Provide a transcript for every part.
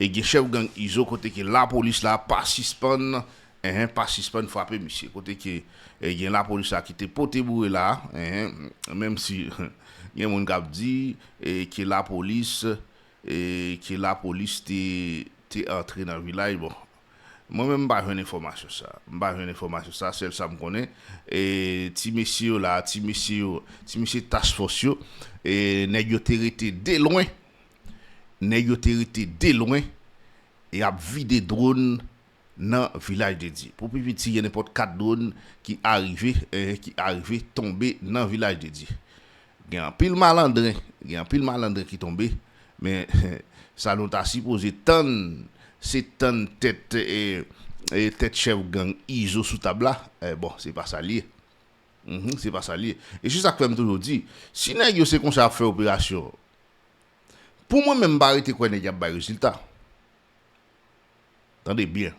E gen chèf gang izo kote ke lapolis la pa sispann enh pa sispann frape misye kote ke gen lapolis la ki te pote boure la enh menm si gen moun kap di ke lapolis ke lapolis te te antre nan vilaj bon mwen menm mpa jwenn enfòmasyon sa mpa jwenn enfòmasyon sa sèl sam konnen ti mesye yo la ti mesye yo ti mesye task force yo nèg yo te rete de lwen. Nèg yo te rete delwen e ap vide dron nan Vilaj de Dye. Pou pi piti gen nenpòt 4 dron ki arive ki arive tonbe nan Vilaj de Dye. Gen anpil malandren, gen anpil malandren ki tonbe men sa nou ta sipoze tann se tann tèt tèt chèf gang Izo sou tab la bon se pa sa l ye. Uhmm se pa sa li ye. E se sak fè m toujou di, si nèg yo se konsa yap fè operasyon, pou mwen menm m pa rete kwè nèg yap bay rezilta. Tande byen.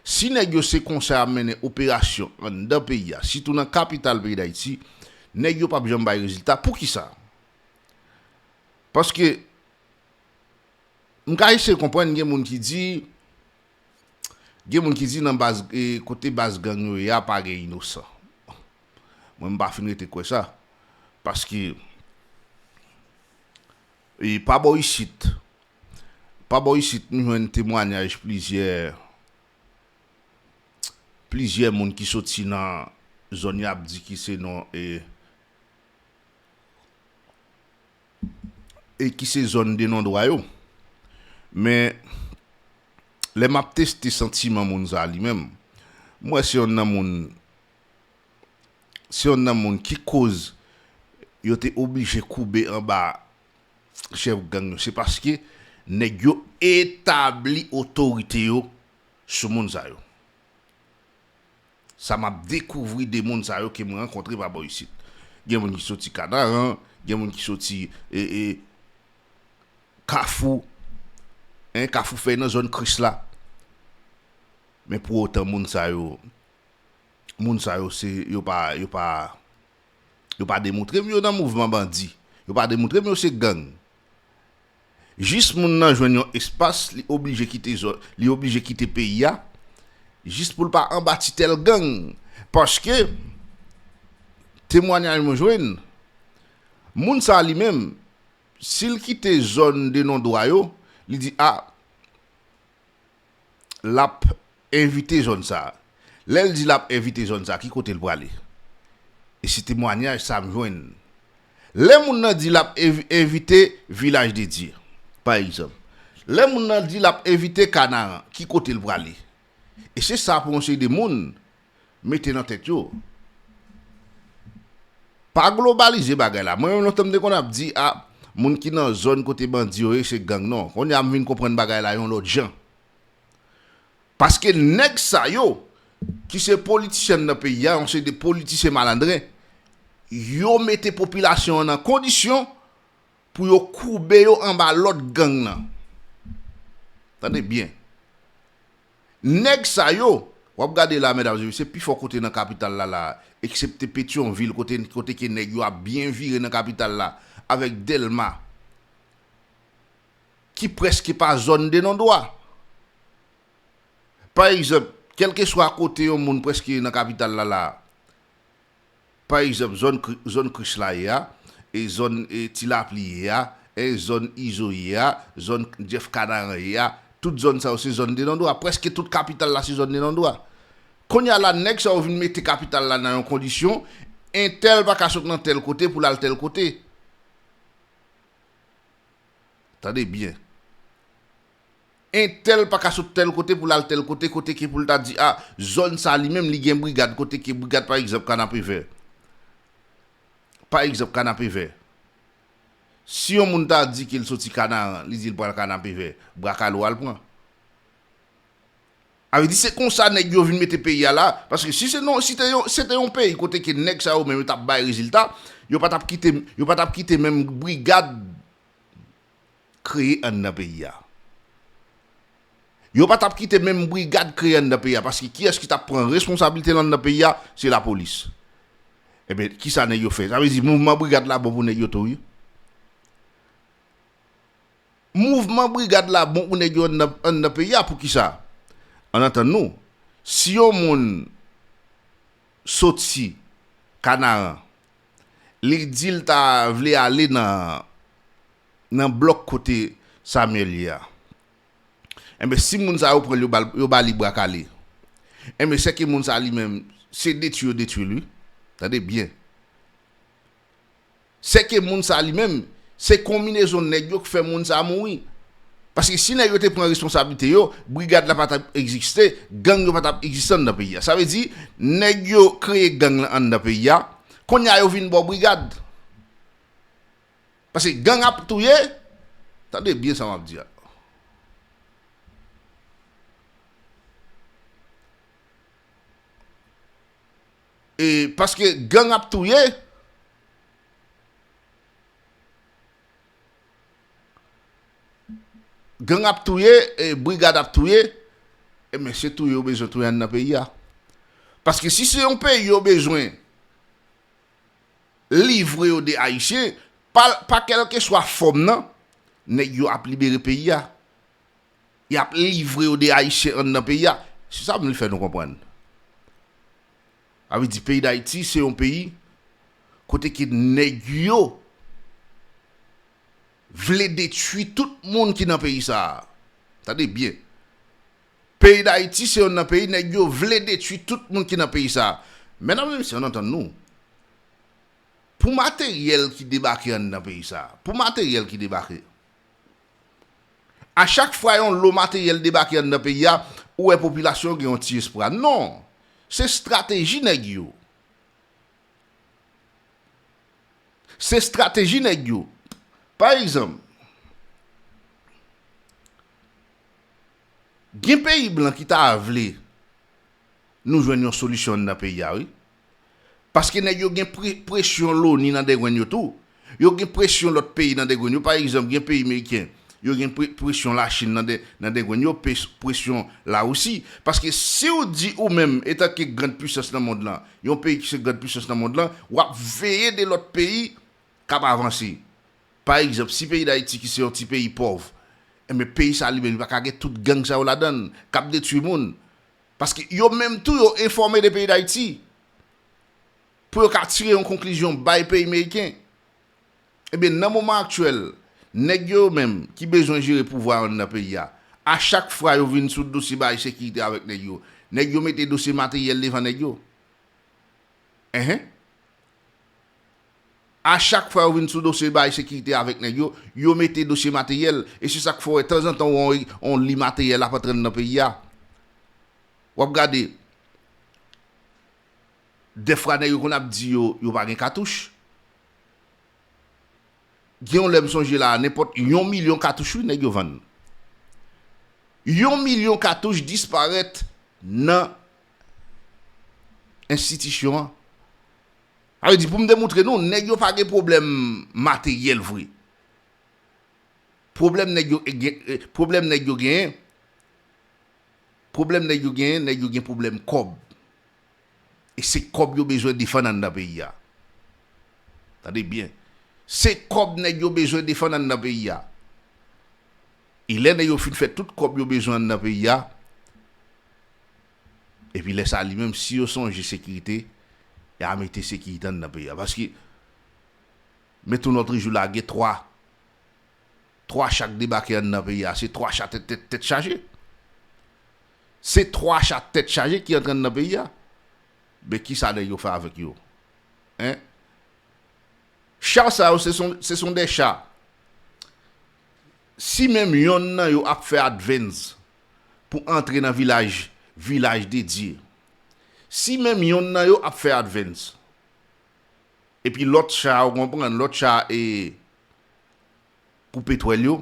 Si nèg yo se konsa yap mennen operasyon anndan peyi a, sitou nan kapital peyi Dayiti, nèg yo pap janm bay rezilta. Poukisa? Paske m ka eseye konprann gen moun ki di. Gen moun ki di nan baz kote baz gang yo ye a pa gen inosan. Mwen m pa fin rete kwè sa. Paske e pa bò isit pa bò isit m jwenn temwanyaj plizyè plizyè moun ki soti nan zòn y ap di ki se nan e e ki se zòn de nondwa yo. Men, lè m ap teste santiman moun sa a li menm, m wè se yon nan moun, se yon nan moun ki koz yo te oblije koube anba chèf gang yo, se paske nèg yo etabli otorite yo sou moun sa yo. Sa map dekouvri de moun sa yo ke mwen rankontre pa bò isit. Gen moun ki soti Kanaran, gen moun ki soti Kafou, hein, Kafou fèy nan zòn Kris la. Men pou otan moun sa yo, moun sa yo se, yo pa, yo pa, yo pa demoutre m yo nan mouvman bandi. Yo pa demoutre m yo se gang. Jis moun nan jwenn yon espas li oblije kite zòn li oblije kite peyi a jis pou l pa anba titèl gang paske temwanyaj mwen jwenn moun sa li menm si l kite zòn de non dwa yo li di a l ap evite zòn sa a. Lè l di l ap evite zòn sa a, ki kote l prale? E se temwanyaj sa a m jwenn. Lè moun nan di l ap evite Vilaj de Dye, pa egzanp, lè moun nan di l ap evite Kanaran, ki kote l prale? E se sa pou yon seri de moun mete nan tèt yo pa globalize bagay la mwen menm lontan m te konn ap di a moun ki nan zòn kote bandi yo ye se gang non kounye a m vin konprann bagay la yon lòt jan paske nèg sa yo ki se politisyen nan peyi a yon seri de politisyen malandren yo mete popilasyon an nan kondisyon Pou yo koube yo anba lòd gang nan. Tande byen. Nèg sa yo, w ap gade la medam e mesye, pi fò kote nan kapital la la a, eksepte Petyonvil kote kote ke nèg yo ap byen vire nan kapital la, avèk Dèlma, ki prèske pa zòn Denondwa. Pa egzanp, kèlkeswa kote yon moun prèske nan kapital la la a, Pa egzanp, zòn zòn krich la ye a, zòn ti lapli ye a, zòn izo ye a, zòn jeff kanaran ye a, tout zòn sa yo se zòn denandwa. Prèske tout kapital la se zòn denandwa. Kounye a la nèg sa yo vin mete kapital la nan yon kondisyon, entèl pa ka sot nan tèl kote pou l al tèl kote. Tande byen. Entèl pa ka sot tèl kote pou l al tèl kote, kote ke pou l ta di a, zòn sa li menm li gen brigad, kote ke brigad pa egzanp Kanapevè. Pa egzanp Kanapevè. Si yon moun ta di ke l soti Kanaran, li di l pral Kanapevè, Brakalo a l pran. A vle di se konsa nèg yo vin mete peyi a la, paske si se non, si te yon, se te yon peyi kote ke nèg sa yo menm yo t ap bay rezilta, yo pa t ap kite, yo pa t ap kite menm brigad. kreye anndan peyi a. Yo pa t ap kite menm brigad kreye anndan peyi a paske kiyès ki t ap pran responsablite l anndan peyi a, se lapolis. Enben, ki sa nèg yo fè? Sa vle di mouvman brigad la bon pou nèg yo tou wi. Mouvman brigad la bon pou nèg yo anndan peyi a, pouki sa? Ann antann nou, si yon moun soti Kanaran, li di l ta vle ale nan blòk kote Samyèl ye a. Enben, si moun sa yo pran l, yo ba li bra kale, enben, sèke moun sa li menm, se detwi yo detwi l, wi. Tande byen. Sèke moun sa li menm, Se konminezon nèg yo k fè moun sa mouri. Paske si nèg yo te pran responsablite yo, brigad la pa t ap egziste, gang yo pa t ap egziste anndan peyi a. Sa vle di, nèg yo kreye gang lan anndan peyi a, kounye a yo vin ba w brigad. Paske gang ap touye, tande byen sa m ap di a. E paske gang ap touye. Gang ap touye e brigad ap touye e men se touye yo bezwen touye andan peyi a. Paske si se yon peyi yo bezwen livre yo de ayisyen, pa kelkeswa fòm nan, nèg yo ap libere peyi a. Yap livre yo de ayisyen andan peyi a. Se sa m vle fè nou konprann. Sa vle di peyi Dayiti se yon peyi kote ke nèg yo vle detui tout moun ki nan peyi sa a. Tande byen. Peyi Dayiti se yonn nan peyi nèg yo vle detui tout moun ki nan peyi sa a. Medam e mesye ann antann nou. Pou materyèl ki debake anndan peyi sa a, pou materyèl ki debake. A chak fwa yon lo materyèl debake anndan peyi a, ou wè popilasyon yo gen yon ti espwa. Non! Se strateji nèg yo. Se strateji nèg yo. Pa egzanp, gen peyi blan ki ta vle nou jwenn yon solisyon anndan peyi a wi. Paske nèg yo gen presyon loni nan dengwenn yo tou. Yo gen presyon lòt peyi nan dengwenn yo. Pa egzanp, gen peyi meriken, yo gen presyon Lachin nan dengwenn yo, presyon Larisi. Paske si ou di ou menm, etanke grand pwisans nan mond lan, yon peyi ki se grand pwisans nan mond lan, w ap veye de lòt peyi k ap avanse. Pa egzanp, si peyi Dayiti ki se yon ti peyi pòv, enben peyi sa li menm li pa ka gen tout gang sa yo ladan l k ap detwi moun. Paske yo menm tou yo enfòme de peyi dayiti pou yo ka tire yon konklizyon bay peyi meriken. Ebyen nan moman aktyèl nèg yo yo menm ki bezwen jere pouvwa anndan peyi a, a chak fwa yo vin sou dosye bagay sekirite avèk nèg yo, nèg yo mete dosye materyèl devan nèg yo. Enhen. A chak fwa yo vin sou dosye bay sekirite avèk nèg yo, yo mete dosye materyèl, e se sak fè w wè tanzantan w wè on li materyèl ap antre anndan peyi a. W ap gade, dèfra nèg yo konn ap di yo, yo pa gen katouch. Gen yon lè m sonje la a, nenpòt yon milyon katouch wi nèg yo vann. Yon milyon katouch disparèt nan enstitisyon an. Sa vle di pou m demoutre nou nèg yo pa gen pwoblèm materyèl vre. Pwoblèm nèg yo gen, pwoblèm nèg yo genyen, pwoblèm nèg yo genyen, nèg yo gen pwoblèm kòb. E se kòb yo bezwen defann anndan peyi a. Tande byen. Se kòb nèg yo bezwen defann anndan peyi a. E lè nèg yo fin fè tout kòb yo bezwen anndan peyi a, epi lè sa li menm si yo sonje sekirite, ya mete sekirite anndan peyi a. Paske, met on nòtre jou la gen 3, 3 cha k debake anndan peyi a, se 3 cha tèt tèt tèt chaje. Se 3 cha tèt chaje ki antre anndan peyi a. Men ki sa nèg yo fè avèk yo? Hein? Cha sa yo se son se son 2 cha Si menm yonn nan yo ap fè advance pou antre nan vilaj vilaj de Dye. Si menm yonn nan yo ap fè advance. Epi lòt cha ou konprann, lòt cha e koupe twèl yo,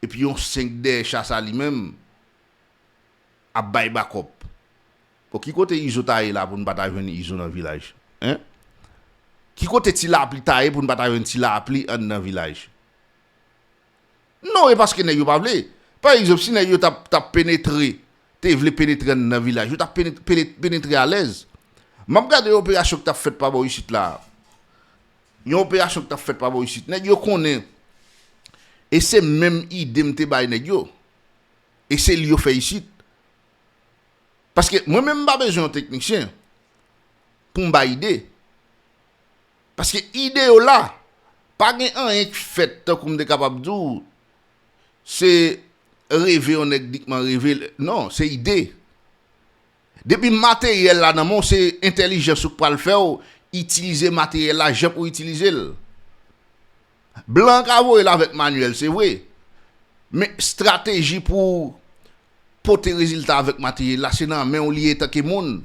epi yon 5 dèyè cha sa li menm ap bay bakòp. Bon ki kote izo ta ye la pou n pa ta jwenn izo nan vilaj hein ki kote ti lapli ta ye pou n pa ta jwenn ti lapli anndan vilaj non e paske nèg yo pa vle pa egzanp si nèg yo tap tap penetre te vle penetre anndan vilaj yo tap penetre penetre alèz map gade yon operasyon ki tap fèt pa bò isit la yon operasyon ki tap fèt pa bò isit nèg yo konnen e se menm ide m te bay nèg yo e se li yo fè isit. Paske mwen menm m pa bezwen yon teknisyen pou m bay ide. Paske ide yo la. Pa gen anyen k fèt tankou m te kapab di w se reve yon nèg nikman reve. Non, se ide. Depi materyèl la nan men w se entèlijans ou k pral fè w itilize materyèl la jan pou w itilize l. Blan ka voye l avèk manyèl se vre, men estrateji pou w pote rezilta avèk materyèl la se nan men w li ye etanke moun.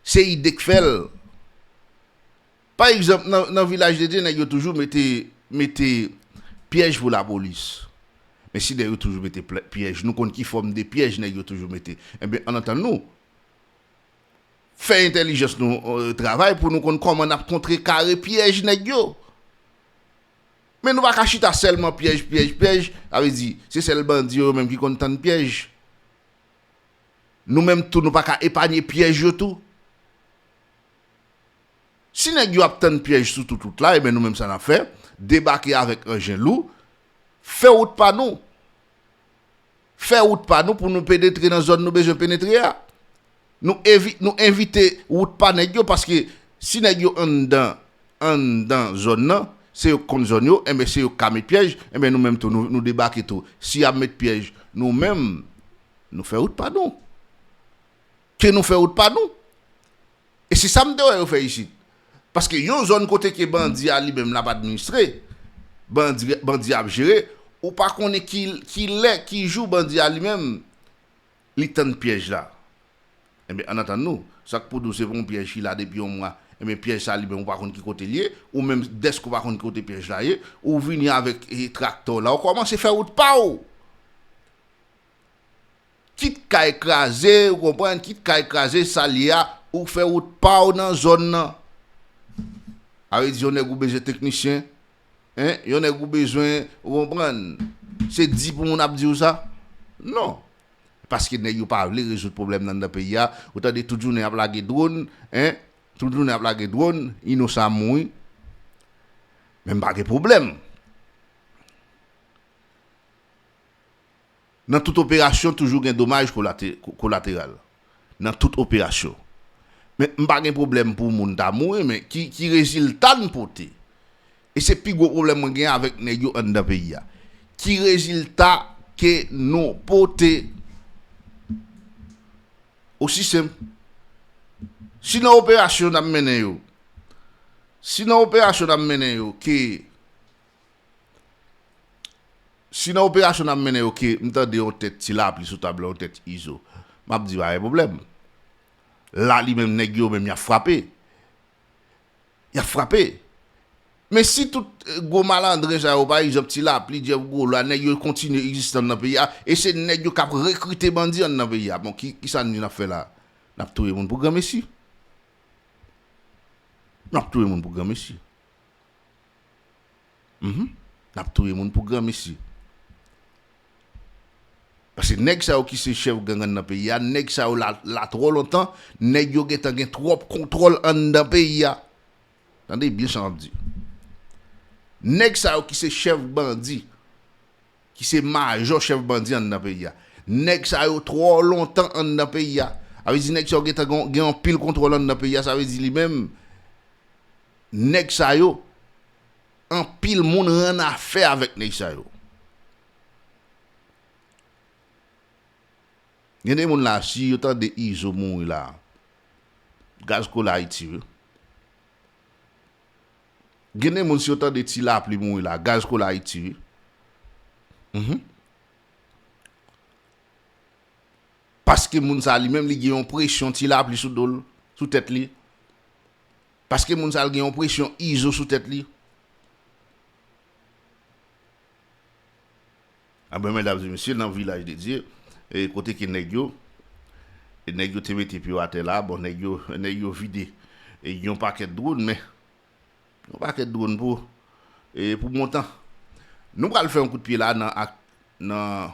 Se ide k fè l. Pa egzanp nan Vilaj de Dye nèg yo toujou mete pyèj pou lapolis. Men si nèg yo toujou mete pyèj, nou konn ki fòm de pyèj nèg yo toujou mete. Enben, ann antann nou. Fè entèlijans nou travay pou nou konn kòman n ap kontre kare pyèj nèg yo. Men nou pa ka chita sèlman pyèj, pyèj, pyèj, sa vle di, se sèl bandi yo yo menm ki konn tann pyèj. Nou menm tou nou pa ka epanye pyèj yo tou. Si nèg yo ap tann pyèj sou tout wout la, e ben nou menm sa n ap fè, debake avèk anjen lou, fè wout pa nou. fè wout pa nou pou nou penetre nan zòn nou bezwen penetre a. Nou evite wout pa nèg yo paske si nèg yo anndan anndan zòn nan, se yo k konn zòn yo, enben se yo k ka met pyèj, enben nou menm tou nou debake tou. Si y ap met pyèj nou menm nou fè wout pa nou. Ke nou fè wout pa nou. E se sa m te wè yo fè isit. Paske yon zòn kote ke bandi a li menm l ap administre, bandi, bandi a ap jere, ou pa konnen ki, ki lè, ki jou bandi a li menm li tann pyèj la. Enben, ann antann nou, sa k pou di w se pou yon pyèj ki la depi yon mwa, enben pyèj sa li menm ou pa konn ki kote l ye, ou menm dèske ou pa konn ki kote pyèj la ye, ou vini avèk traktè w la, ou kòmanse fè wout pa w! Kit kay kraze, ou konprann, kit kay kraze, sa l ye a, ou fè wout pa w nan zòn nan. A vle di yon nèg ou bezwen teknisyen, hein, yon nèg ou bezwen, ou konprann, se di pou moun ap di w sa? Non. Paske nèg yo pa vle rezoud pwoblèm nan anndan peyi a, ou tande tout jounen y ap lage dwòn, hein, tout jounen y ap lage dwòn, inosan ap mouri. Men m pa gen pwoblèm. Nan tout operasyon toujou gen domaj kolateral. Nan tout operasyon. Men m pa gen pwoblèm pou moun ta mouri men ki rezilta n pote? E se pi gwo pwoblèm mwen gen avèk nèg yo anndan peyi a. Ki rezilta ke nou pote? Osi senp. Si nan operasyon n ap mennen yo, si nan operasyon n ap mennen yo ke Si nan operasyon nap mennen yo ke m tande yon tèt ti lapli sou tab la yon tèt izo map di pa gen pwoblèm la li menm nèg yo menm yap frape yap frape men si tout gwo malandren sa yo pa egzanp ti lapli Jeff Gwo la nèg yo kontinye egzistan nan peyi a e se nèg yo kap rekrite bandi an nan peyi a bon kisa n vin ap fè la nap touye moun pou granmesi nap touye moun pou granmesi. Mph nap touye moun pou granmesi. Paske nèg sa yo ki se chèf gangan nan peyi a, nèg sa yo la la twò lontan, nèg yo gentan gen twòp kontwòl anndan peyi a. Tande byen sa map di. Nèg sa yo ki se chèf bandi, ki se majò chèf bandi anndan peyi a. Nèg sa yo twò lontan anndan peyi a. Sa vle di nèg sa yo gentan gen anpil kontwòl anndan peyi a, sa vle di li menm. Nèg sa yo, anpil moun rannafè avèk nèg sa yo. Gen de moun la si yo tande Izo mouri la, gaz kole Ayiti wi. Gen de moun si yo tande Ti Lapli mouri la, gaz kole Ayiti wi. Mh. Paske moun sa li menm li gen yon presyon Ti Lapli sou do l, sou tèt li. Paske moun sa l gen yon presyon izo sou tèt li. Apre mwen ta di misye nan vilaj de Dye e kote ki nèg yo e nèg yo te mete pye yo atè la bon nèg yo nèg yo vide e yon pakèt dron men yon pakèt dron pou e pou montan nou pral fè yon kout pye la nan ak nan